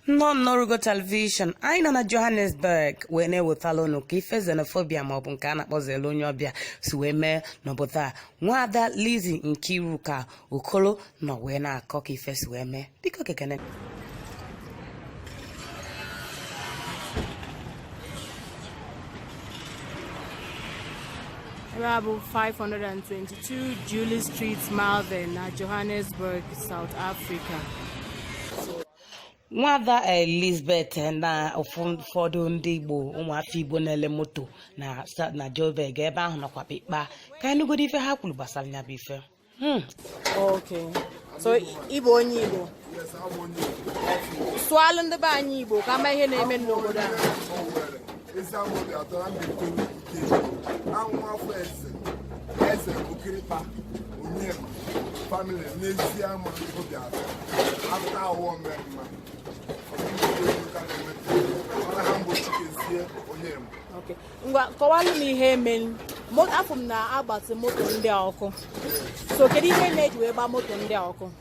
nnọọ nnọrụgo telivishọn anyị nọ na johannesburg wee na-ewetala unu ka ife xenophobia maọbụ nke a na-akpọ zelu onye ọbịa si wee mee n'obodo a nwaada lizi nkiruka okolo nọ wee na-akọ ka ife si wee mee biko gekene ebe a bụ 520 2 Julie Street Malvern na Johannesburg, South Africa. nwada elizabeth na ụfọdụ ndị igbo ụmụafọ igbo na-ele moto na sa- na joburg ebe ahụ nakwa kpekpa ka anyị nụgodo ife ha kwuru gbasara ya bụ ife Hmm. Okay. So, Igbo onye Igbo. sụalụ ndị be anyị Igbo ka a ma ihe na-eme n'obodo a eze okirikpa onye famili n'ezie ama obi atọ afta awọ mmemma ngwa kọwalụ m ihe e melu afụ m na agbasị moto ndị a ọkụ so kedu ihe na-eji wee gbaa moto ndị a ọkụ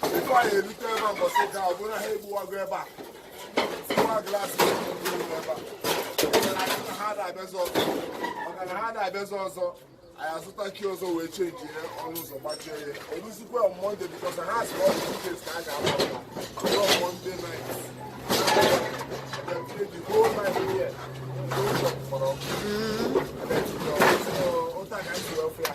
tupu anyị erute ebe a mbọsị ga ọ bụrụ ha egbuwago ebe a tiwa glaasị ebe a ha na-abịazi ọzọ maka na ha na-abịazi ọzọ anyị azụta kii ọzọ wee chenji ya ọnụ ụzọ gbachie ya eruzikwa mọnde bikọs ha sị ọ dị nke ka a ga-agba mọnde nait otu a ka anyị si wee fụ ya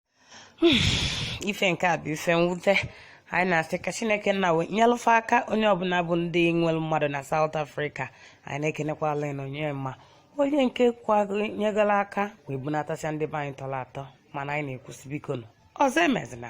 hmm, ife nke a bụ ife mwute anyị na-asị ka chineke nna wee nyelụ fa aka onye ọbụla bụ ndị nwere mmadụ na South Africa anyị na-ekenekwa Allen Onyema onye nke nyegara aka wee bunatasịa ndị be anyị tọrọ atọ mana anyị na-ekwusi biko nụ ọzọ emezina